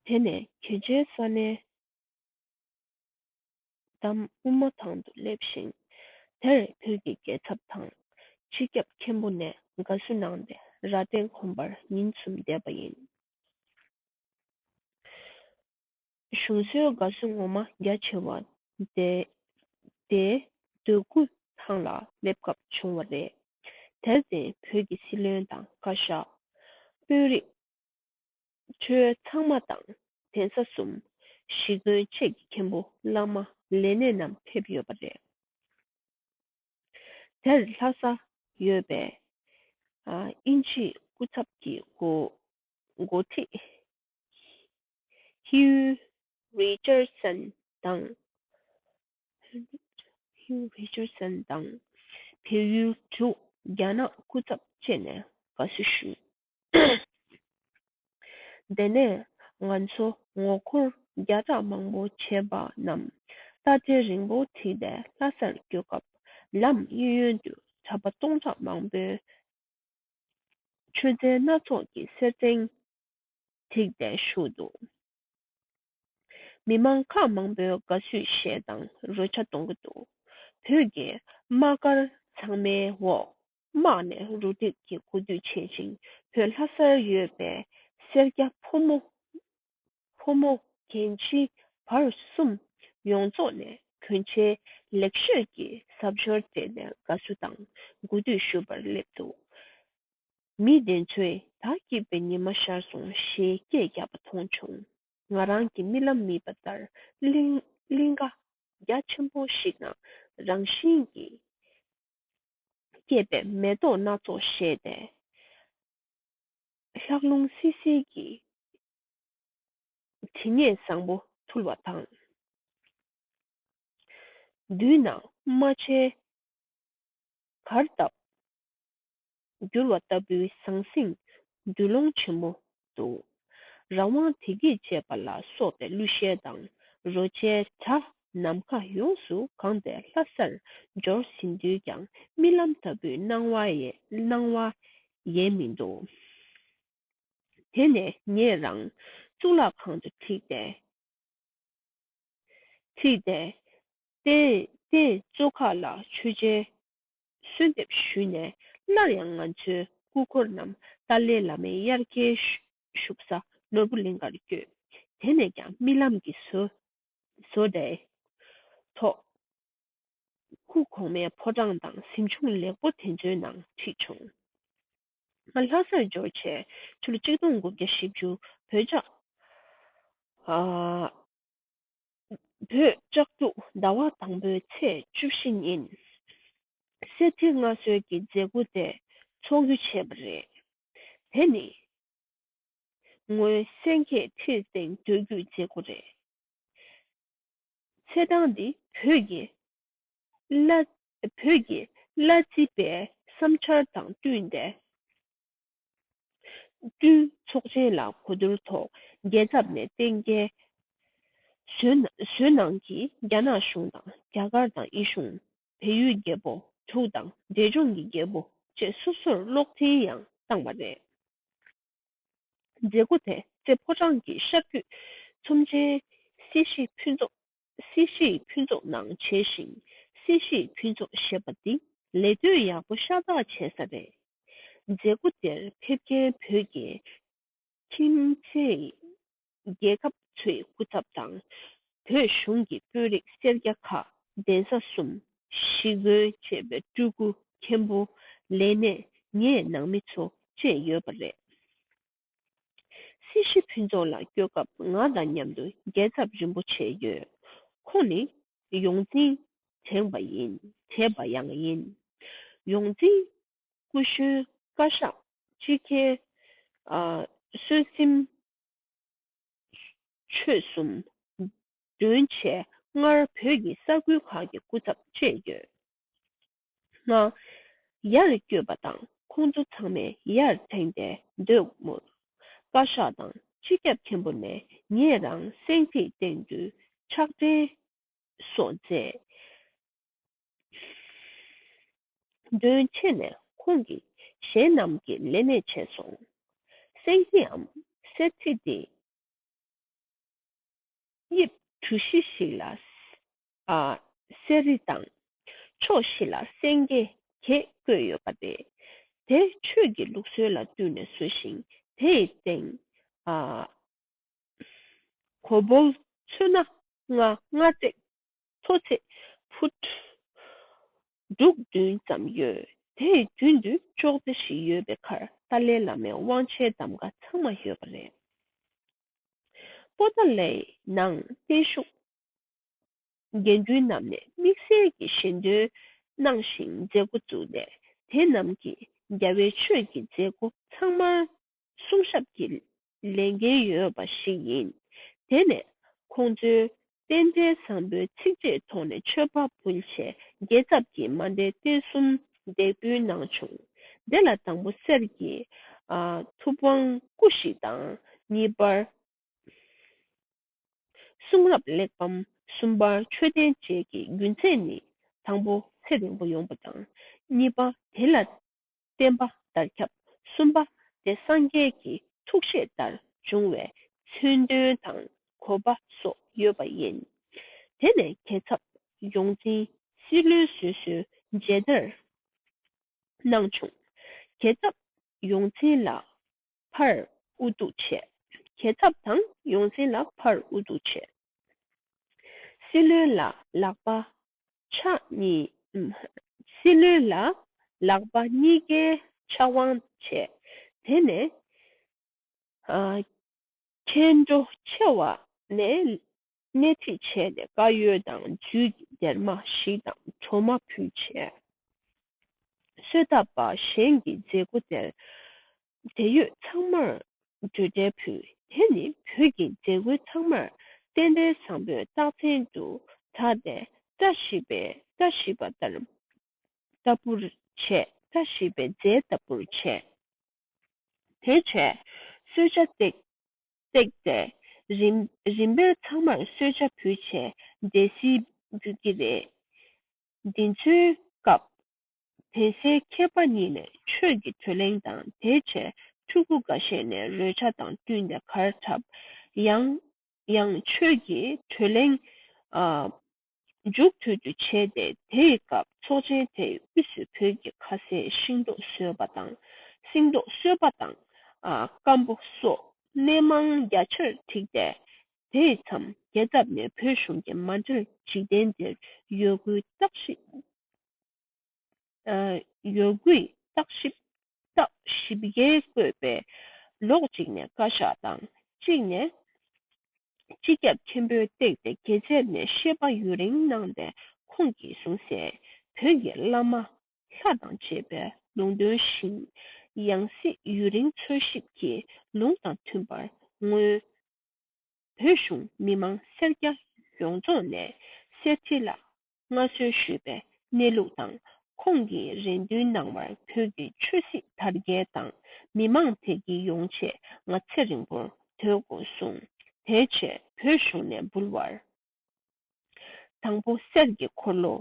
དེ་ནས་གྱོད་ཆེན་ས་ནས་འདམ་དབུ་མ་ཐང་དུ་སླེབས་ཤིང། དེར་བོད་ཀྱི་རྒྱལ་ཚབ་དང་སྤྱི་ཁྱབ་མཁན་པོ་ནས་དགའ་བསུ་གནང་སྟེ་རྭ་སྟེང་གོམ་པར་ཉིན་གསུམ་བསྡད་པ་ཡིན། གཞུང་སྲོལ་དགའ་བསུ་ངོ་མ་རྒྱ་ཆེ་བ། དེ་འདོད་རྒུ་ཐང་ལ་སླེབས་སྐབས་བྱུང་བ་རེད། དེར་བརྟེན་བོད་ཀྱི་སྲིད་བློན་དང་བཀའ་ཤག། དཔོན་རིགས། ཁྲོད་ཚང་མ་དང་གདན་ས་གསུམ། གཞིས་དགོན་བཅས་ཀྱི་མཁན་པོ་བླ་མ་ལས་སྣེ་རྣམས་ཕེབས་ཡོད་པ་རེད། དེར་ལྷ་ས་ཡོད་པས། དབྱིན་ཇིའི་སྐུ་ཚབ་ཀྱི་འགོ་ཁྲིད། Hugh Richardson། དང། བལ་ཡུལ་དྲུག་རྒྱ་ནག་སྐུ་ཚབ་བཅས་ནས་དགའ་བསུ་ཞུས། དེ་ནས་ང་ཚོ་ངོ་འཁོར་བརྒྱ་ཕྲག་མང་པོ་བྱེད་པ་རྣམས་རྟ་དྲེལ་རིང་པོ་བྲིས་པའི་ལྷ་སར་བསྐྱོད་སྐབས་ལམ་གཡས་གཡོན་དུ་གྲྭ་པ་སྟོང་ཕྲག་མང་པོས་མཆོད་རྫས་སྣ་ཚོགས་ཀྱི་སེར་ཕྲེང་ཚིག་བརྡའི་གཞུང་དུ། མི་མང་ཁག་མང་པོའི་དགའ་བསུའི་གཞས་དང་རོལ་ཆ་གཏོང་གི་འདུག་བོད་རྒྱའི་དམག་སྒར་ཚང་མའི་འོག་དམག་ནས་རུ་སྒྲིག་གི་གོ་བསྡུར་བྱེད་ཅིང་བོད་ལྷ་སར་ཡོད་པའི་སེར་སྐྱ་ཕོ་མོ། ཕོ་མོ། རྒན་བྱིས་བར་གསུམ་ཡོངས་རྫོགས་ནས་གྱོན་ཆས་ལེགས་ཤོས་ཀྱི་གཟབ་མཆོར་སྤྲས་ནས་དགའ་བསུ་དང་གོ་བསྡུར་ཞུ་བར་སླེབས་འདུག་མི་བདེན་ཚོས་ད་སྐྱིད་པའི་ཉི་མ་ཤར་སོང་ཞེས་སྐད་རྒྱག་པ་མཐོང་བྱུང། ང་རང་གི་རྨི་ལམ་རྨིས་པ་ལྟར་གླིང་ག་རྒྱ་ཆེན་པོ་ཞིག་ན་རང་བཞིན་གྱིས་སྐྱེས་པའི་མེ་ཏོག་སྣ་ཚོགས་བཞད་དེ། ལྷགས་རླུང་བསིལ་བསིལ་གྱི་དྲི་ངད་བཟང་པོ་འཐུལ་བ་དང། མདུན་ན་རྨ་བྱའི་གར་སྟབས་བསྒྱུར་བ་ལྟ་བུའི་ཟང་ཟིང་འདུལ་ལོང་ཆེན་པོ་འདུག། རང་དབང་དེ་སྐད་ཅེས་པ་ལ་སོགས་པའི་གླུ་གཞས་དང་རོལ་ཆའི་སྒྲ་ནམ་མཁའ་ཡོངས་སུ་གང་སྟེ་ལྷ་སར་འབྱོར་ཟིན་དུས་ཀྱང་རྨི་ལམ་ལྟ་བུའི་སྣང་བ་སྣང་བ་ཡལ་མི་འདུག། དེ་ནས་ངས་རང་གཙུག་ལག་ཁང་དུ་ཁྲིད་དེ། ཁྲིད་དེ། རྟེན་གཙོ་ཁག་ལ་མཆོད་མཇལ་གསོལ་འདེབས་ཞུས་ནས་སླར་ཡང་ང་ཚོའི་སྐུ་འཁོར་རྣམས་ཏཱ་ལའི་བླ་མའི་དབྱར་སྐྱེལ་བཞུགས་ས་ནོར་བུ་གླིང་གར་བསྐྱོད། དེ་ནས་ཀྱང་རྨི་ལམ་གྱི་བཟོ་ལྟའི་ཐོག་སྐུ་གོང་མའི་ཕོ་བྲང་དང་གཟིམ་ཆུང་ལེགས་པོ་དེ་ཚོའི་ནང་ཁྲིད་བྱུང། ང་ལྷ་སར་འབྱོར་ཆེད་ཕྱི་ལོ་གཅིག་སྟོང་དགུ་བརྒྱ་བཞི་བཅུ་བོད་ལྕགས། བོད་ལྕགས་རྒྱུག་ཟླ་བ་དང་པོའི་ཚེས་བཅུ་བཞི་ཉིན་གསེར་ཁྲི་མངའ་གསོལ་གྱི་མཛད་སྒོ་དེ་འཚོགས་རྒྱུ་བྱས་པ་རེད། དེ་ནི་སྔོན་སེང་གེ་ཁྲིར་སྟེང་སྡོད་རྒྱུའི་མཛད་སྒོ་རེད། ཚེས་གྲངས་འདི་བོད་ཀྱི་བླ་རྩིས་པའི་བསམ་འཆར་དང་བསྟུན་ཏེ་བསྐྲུན། ཚོགས་ཆེན་ལ་གོ་བསྡུར་ཐོག་རྒྱལ་ཚབ་ནས་བསྟན་དགེ་བཟོད་ནང་གིས་རྒྱ་ནག་གཞུང་དང་རྒྱ་གར་དང་དབྱི་གཞུང། བལ་ཡུལ་རྒྱལ་པོ་དྲུག་དང་འབྲས་ལྗོངས་ཀྱི་རྒྱལ་པོ་བཅས་སོ་སོར་གློག་འཕྲིན་ཡང་བཏང་བ་རེད། མཛད་སྒོ་དེ་རྩེ་ཕོ་བྲང་གི་ཤར་རྒྱུད་ཚོམས་ཆེན་སྲིད་ཞིའི་ཕུན་ཚོགས་སྲིད་ཞིའི་ཕུན་ཚོགས་ནང་བྱས་ཤིང་སྲིད་ཞིའི་ཕུན་ཚོགས་ཞེས་པ་འདི་ལས་ལྟོས་ཡག་པོ་ཤ་སྟག་བྱས་ས་རེད། མཛད་སྒོ་དེར་ཕེབས་མཁན་བོད་རྒྱའི་ཁྱིམ་མཚེས་རྒྱལ་ཁབ་ཚོའི་སྐུ་ཚབ་དང་བོད་གཞུང་གི་དཔོན་རིགས་སེར་སྐྱ་ཁག་གདན་ས་གསུམ་ཞི་རྒོལ་བྱེད་པའི་སྤྲུལ་སྐུ་མཁན་པོ་ལས་སྣེ་ངེད་ནང་མི་ཚོ་བཅས་ཡོད་པ་རེད། སྲིད་ཞི་ཕུན་ཚོགས་ལ་སྐྱོད་སྐབས་ང་དང་མཉམ་དུ་རྒྱལ་ཚབ་རིན་པོ་ཆེ་ཡོད། ཁོང་ནི་ཡོངས་འཛིན་དྲེགས་པ་ཡིན་དྲེགས་པ་ཡང་ཡིན། ཡོངས་འཛིན་སྐུ་གཞོན་བཀའ་ཤག་སྤྱི་མཁས་བསོད་སེམས་ཆོས་གསུམ། བདུན་བྱས་སྔར་བོད་ཀྱི་ས་ཁུལ་ཁག་གི་སྐུ་ཚབ་བཅས་ཡོད། ང། ཡར་བསྐྱོད་པ་དང་ཁོང་ཚོ་ཚང་མས་ཡར་འཐེན་ཏེ་སྡོད་མུར། བཀའ་ཤག་དང་སྤྱི་ཁྱབ་མཁན་པོ་ནས་ངེད་རང་སེང་ཐིག་སྟེང་དུ་ཕྱག་འཕྲིན་སོགས་མཛད། དོན་ཆེ་ནས་ཁོང་གིས་གཞན་རྣམས་ཀྱི་ལས་གནས་བྱས་སོང། སེང་ཐིགའམ་གསེར་ཐིག་འདི། དབྱིབས་གྲུ་བཞི་ཞིག་ལ་གསེར་རི་དང། ཕྱོགས་བཞི་ལ་སེང་གེ་བརྒྱད་བརྐོས་ཡོད་པ་སྟེ། དེ་ཆོས་ཀྱི་ལུགས་སྲོལ་ལ་བསྟུན་ནས་བཟོས་ཤིང་དེ་ཡི་སྟེང། གོ་བོལ་ཚོན་སྣ་ལྔ་སྔ་བརྩེགས་མཐོ་བརྩེགས་ཕུད། འབྲུག་བདུན་ཙམ་ཡོད་དེ་རྒྱུན་དུ་ཅོག་ཙེ་བཞི་ཡོད་པའི་ཁར་ཏཱ་ལའི་བླ་མའི་དབང་ཆའི་གདམ་ག་ཚང་མ་ཡོད་པ་རེད། པོ་ཏཱ་ལའི་ནང་བརྟན་བཞུགས་འགན་འཁུར་རྣམས་ནས་དམིགས་བསལ་གྱི་གཞན་དོན་གནང་ཞིང་མཛད་སྒོ་བཙུགས་ནས་དེ་རྣམས་ཀྱིས་རྒྱ་བལ་ཆོས་ཀྱི་མཛད་སྒོ་ཚང་མར་གསུང་ཞབས་ཀྱི་ལས་འགན་ཡོད་པ་ཞིག་ཡིན། དེ་ནས་ཁོང་ཚོའི་རྟེན་འབྲེལ་བཟང་པོའི་ཚིག་བཅད་ཐོག་ནས་ཆོས་པ་སྤུན་ཆེ་རྒྱལ་ཚབ་ཀྱིས་མ་འདས་རྟེན་གསུམ་འདེགས་འབུལ་གནང་བྱུང། དེ་ལ་དང་པོ་གསེར་གྱི་ཐུབ་དབང་སྐུ་ཞིག་དང་གཉིས་པར། གསུང་རབ་གླེགས་བམ་གསུམ་པར་མཆོད་རྟེན་བཅས་ཀྱི་རྒྱུན་ཚད་ནི་དང་པོ་ཚད་རིང་པོ་ཡོང་པ་དང་གཉིས་པ་དེ་ལ་བརྟེན་པ་ལྟར་ཁྱབ་གསུམ་པ་དེ་སངས་རྒྱས་ཀྱི་ཐུགས་བཞེད་ལྟར་འབྱུང་བས་མཚོན་དོན་དང་གོ་བ་སོགས་ཡོད་པ་ཡིན། དེ་ནས་གྱེས་ཚབ་ཡོངས་འཛིན་སྲིད་བློན་བཟོད་གསོལ་མཇལ་དར་གནང་བྱུང། གྱེས་ཚབ་ཡོངས་འཛིན་ལ་ཕར་ཨུ་ཏུ་བྱས། གྱེས་ཐབས་དང་ཡོངས་འཛིན་ལ་ཕར་ཨུ་ཏུ་བྱས། སྲིད་བློན་ལ་ལག་པ་ཕྱག་གཉིས། སྲིད་བློན་ལ་ལག་པ་གཉིས་ཀའི་ཕྱག་དབང་བྱས། དེ་ནས། མཁན་སྒྲོ་ཆེ་བ་ནས་སྣེ་ཁྲིད་བྱས་ནས་དཀར་ཡོལ་དང་རྒྱུད་ཀྱི་སྡེར་མ་ཞིག་དང་གྲོ་མ་ཕུལ་བྱས། གསོལ་བཏབ་པ་གཞན་གྱི་མཛད་སྒོ་དེར་འབྲེལ་ཡོད་ཚང་མར་འབྲུ་དྲལ་ཕུལ། དེ་ནི་བོད་ཀྱི་མཛད་སྒོའི་ཚང་མར་རྟེན་འབྲེལ་བཟང་པོའི་རྟགས་མཚན་དུ་གྲགས་ཏེ་བཀྲ་ཤིས་པའི་བཀྲ་ཤིས་པ་ལྟར་ལྟ་བུར་བྱས་བཀྲ་ཤིས་པའི་རྫས་ལྟ་བུར་བྱས། དེ་བྱས་གསོལ་བྱ་བཏེགས། བཏེགས་ཏེ། རིམ་རིམ་པས་ཚང་མར་གསོལ་ཇ་ཕུལ་བྱས་འདས་ཟིལ་འབུད་ཀྱི་རེད། འདི་ཚོའི་སྐབས། དེ་སྲས་མཁས་པ་གཉིས་ནས་ཆོས་ཀྱི་དོད་གླེང་དང་དེ་བྱས་ཕྲུ་གུ་འགའ་ཤས་ནས་རོལ་ཆ་དང་བསྟུན་ཏེ་གར་འཁྲབ། ཡང་ཡང་ཆོས་ཀྱི་དོད་གླེང། མཇུག་ཐུག་རྒྱུ་བྱས་ཏེ་དེའི་སྐབས་ཚོགས་ཆེན་དེའི་དབུས་སུ་བོད་ཀྱི་ཁ་ཟས་ཤིང་ཏོག་གསོལ་བ་དང་སེང་ཏོག་གསོལ་བ་དང་སྐམ་པོ་སོགས་སྣེ་མང་རྒྱ་ཆེར་བྲིས་ཏེ་དེའི་མཚམས་རྒྱལ་ཚབ་ནས་བོད་གཞུང་གི་མ་འབྲེལ་འཇིག་རྟེན་འདིར་ཡོད་དགུའི་བརྟག་ཞིབ་རྟགས་བཞི་བརྒྱའི་བཀོད་པས་ལོགས་གཅིག་ནས་བཀའ་ཤག་དང་གཅིག་ནས་སྤྱི་ཁྱབ་ཆེན་པོས་བཏེགས་ཏེ་དགེ་ཆེར་ནས་བཤད་པ་ཡུན་རིང་གནང་པའི་ཁོང་གིས་གསུང་གསལ་བོད་ཀྱི་བླ་མ་ལྷ་དང་བཅས་པའི་ལུང་དོན་བཞིན་ཡང་སྲིད་ཡུན་རིང་འཚོལ་ཞིབ་ཀྱིས་ལུང་དང་མཐུན་པར་སྔོན་བོད་གཞུང་མི་མང་སེར་སྐྱ་ཡོངས་རྫོགས་ནས་གསེར་ཁྲི་ལ་མངའ་གསོལ་ཞུས་པའི་གནས་ལུགས་དང་ཁོང་གིས་རེ་འདུན་གནང་བར་བོད་ཀྱི་ཆོས་སྲིད་དར་རྒྱས་དང་མི་མང་བདེ་སྐྱིད་ཡོང་ཆེད་ང་ཚེ་རིང་པོར་སྡོད་དགོས་གསུངས། དེའི་ཆེད་བོད་གཞུང་ནས་འབུལ་བར། དང་པོ་གསེར་གྱི་འཁོར་ལོ།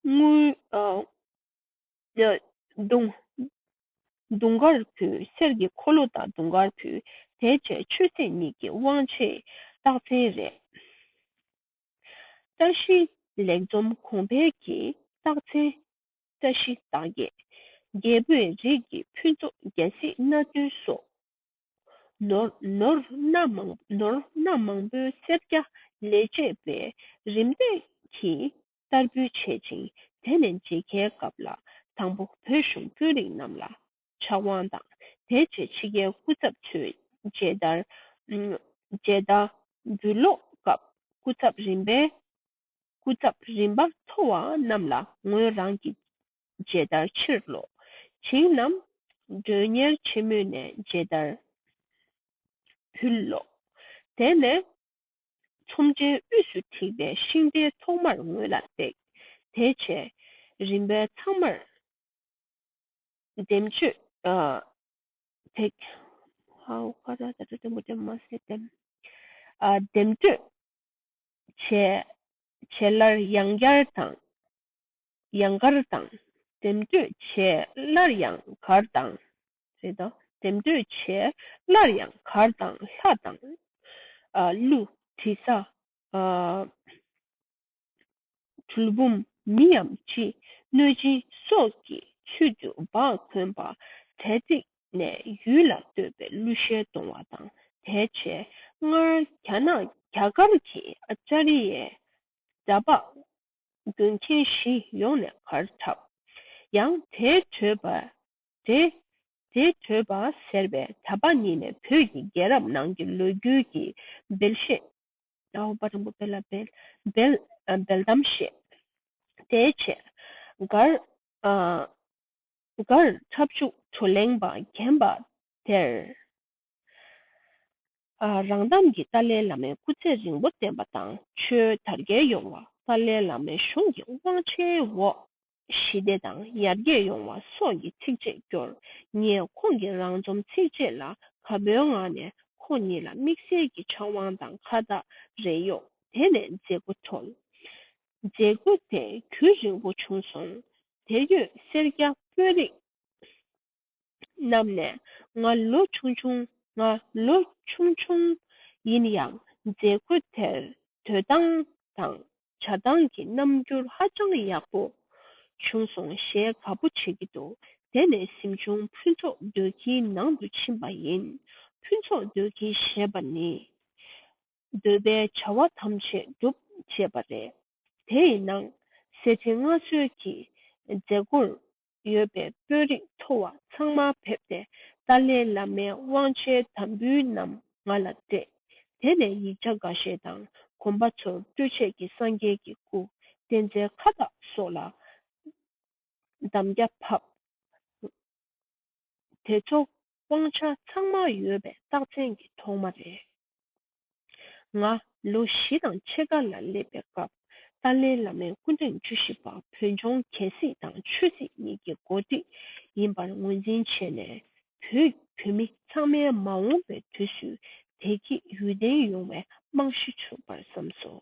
དངུལ། དུང་དཀར་ཕུལ། གསེར་གྱི་འཁོར་ལོ་དང་དུང་དཀར་ཕུལ། དེའི་ཆེད་ཆོས་སྲིད་གཉིས་ཀྱི་དབང་ཆའི་རྟགས་མཚན་རེད། བཀྲ་ཤིས་ལེགས་འཛོམ་གོང་འཕེལ་གྱི་རྟགས་མཚན། བཀྲ་ཤིས་རྟགས་བརྒྱད། རྒྱལ་པོའི་རིགས་ཀྱི་ཕུན་ཚོགས་རྒྱལ་སྲིད་སྣ་བདུན་སོགས། ནོར་སྣ་མང་པོའི་སེར་སྐྱ་ལས་བཅས་པས་རིམ་བརྟན་གྱིས་བསྟར་འབུལ་བྱེད་ཅིང་དེ་ནས་མཇལ་ཁའི་སྐབས་ལ་དང་པོ་བོད་གཞུང་དཔོན་རིགས་རྣམས་ལ་ཕྱག་དབང་དང་དེའི་རྗེས་ཕྱི་རྒྱལ་སྐུ་ཚབ་ཚོས་མཇལ་དར། མཇལ་དར། འབུལ་ཀློག་སྐབས་སྐུ་ཚབ་རིམ་པས་སྐུ་ཚབ་རིམ་པ་མཐོ་བ་རྣམས་ལ་ངོས་རང་གི་མཇལ་དར་ཕྱིར་སློག་བྱིངས་རྣམས་མགྲོན་གཉེར་ཆེན་མོ་ནས་མཇལ་དར་འབུལ་ཀློག། དེ་ནས་ཚོམས་ཆེན་དབུས་སུ་བྲིས་པའི་ཤིང་རྟའི་ཐོག་མར་ངོས་ལ་བཏེགས། དེའི་རྗེས་རིམ་པས་ཚང་མར། འདེམས་སྤྱོད་བྱེད་སླར་ཡང་བསྐྱར་དང། ཡང་བསྐྱར་དང། འདེམས་སྤྱོད་བྱེད་སླར་ཡང་བསྐྱར་དང། འདེམས་སྤྱོད་བྱེད་སླར་ཡང་བསྐྱར་དང་ལྷ་དང། ཀླུ། དྲི་ཟ། གྲུལ་བུམ་མི་ཡམ་ཅི་གནོད་སྦྱིན་སོགས་ཀྱི་ཚུལ་དུ་འབག་གོན་པ། དལ་བརྩིགས་ནས་ཡུལ་ལ་བསྟོད་པའི་གླུ་གཞས་གཏོང་བ་དང་དལ་ཆེ། སྔར་རྒྱ་ནག་རྒྱ་གར་གྱི་ཨཅཱ་རི་ཡའི་འདྲ་འབག་རྒྱུན་མཁན་བཞི་ཡོང་ནས་གར་འཁྲབ། ཡང་དལ་བྲོས་པ། དལ་བྲོས་པ་ཟེར་བའི་གྲྭ་པ་གཉིས་ནས་བོད་ཀྱི་རྒྱལ་རབས་ནང་གི་ལོ་རྒྱུས་ཀྱི་འབེལ་བཤད་ལ་འོག་པ་རིང་པོ་འབེལ། འབེལ་གཏམ་བཤད། དེའི་ཕྱིར། མགར། འཁྲབ་འཇུག་བགྲོ་གླེང་བ་རྒན་པ་དེར། རང་གཏམ་གྱི་ཏཱ་ལའི་བླ་མའི་སྐུ་ཚེ་རིང་པོ་བརྟན་པ་དང་ཆོས་དར་རྒྱས་ཡོང་བ་ཏཱ་ལའི་བླ་མའི་གཞུང་གི་དབང་ཆའི་འོག་ཞི་བདེ་དང་ཡར་རྒྱས་ཡོང་བ་སོགས་ཀྱི་ཚིགས་བཅད་བསྐྱོར། ངས་ཁོང་གི་རང་རྩོམ་ཚིགས་བཅད་ལ་ག་བོའི་ངང་ནས་ཁོང་ཉིད་ལ་དམིགས་བསལ་གྱི་ཕྱག་དབང་དང་ཁ་བཏགས་རེ་གཡོགས་དེ་ནས་མཛད་སྒོ་འཚོགས། མཛད་སྒོ་དེ་དུས་རིང་པོ་བྱུང་སོང། དེར་ཡོད་སེར་སྐྱ་དཔོན་རིགས། བསྣམས་ནས་ང་ལོ་ཆུང་ཆུང་ང་ལོ་ཆུང་ཆུང་ཡིན་ཡང་མཛད་སྒོ་དེར་དོད་སྟངས་དང་བྱ་སྟངས་ཀྱི་རྣམ་འགྱུར་ཧ་ཅང་ཡག་པོ་བྱུང་སོང་གཞས་ག་པོ་བྱེད་ཀྱི་འདུག་དེ་ནས་གཟིམ་ཆུང་ཕུན་ཚོགས་སྡོད་ཁྱིའི་ནང་དུ་ཕྱིན་པ་ཡིན་ཕུན་ཚོགས་སྡོད་ཁྱི་ཞེས་པ་ནི་འདོད་པའི་བྱ་བ་ཐམས་ཅད་འགྲུབ་ཅེས་པ་རེད་དེ་ཡི་ནང་གསེས་ཁྲི་མངའ་གསོལ་གྱི་མཛད་སྒོར་ཡོད་པའི་དཔོན་རིགས་མཐོ་བ་ཚང་མ་ཕེབས་ཏེ་ཏཱ་ལའི་བླ་མའི་དབང་ཆའི་དམ་འབུལ་རྣམས་ང་ལ་སྤྲད། དེ་ནས་ཡིག་ཆ་འགའ་ཤས་དང་གོམ་པ་ཚོར་སྤྲོད་ཆས་ཀྱི་སངས་རྒྱས་ཀྱི་སྐུ་རྟེན་རྫས་ཁ་བཏགས་སོགས་ལ་འདམ་རྒྱ་ཕབ། དེ་ཚོ་དབང་ཆ་ཚང་མ་ཡོད་པའི་རྟགས་མཚན་གྱི་ཐོག་མ་རེད། ང་ལོ་བཞི་དང་ཕྱེད་ཀ་ལ་སླེབས་པའི་སྐབས་ཏཱ་ལའི་བླ་མའི་སྐུ་ཕྲེང་བཅུ་བཞི་པ་བོད་ལྗོངས་གལ་སྲིད་དང་ཆོས་སྲིད་གཉིས་ཀྱི་འགོ་ཁྲིད་ཡིན་པར་ངོས་འཛིན་བྱས་ནས་བོད་བོད་མི་ཚང་མའི་མ་འོངས་པའི་དུས་སུ་བདེ་སྐྱིད་ཡུན་བརྟན་ཡོང་བའི་རྨང་གཞི་བྱུང་པར་བསམས་སོ།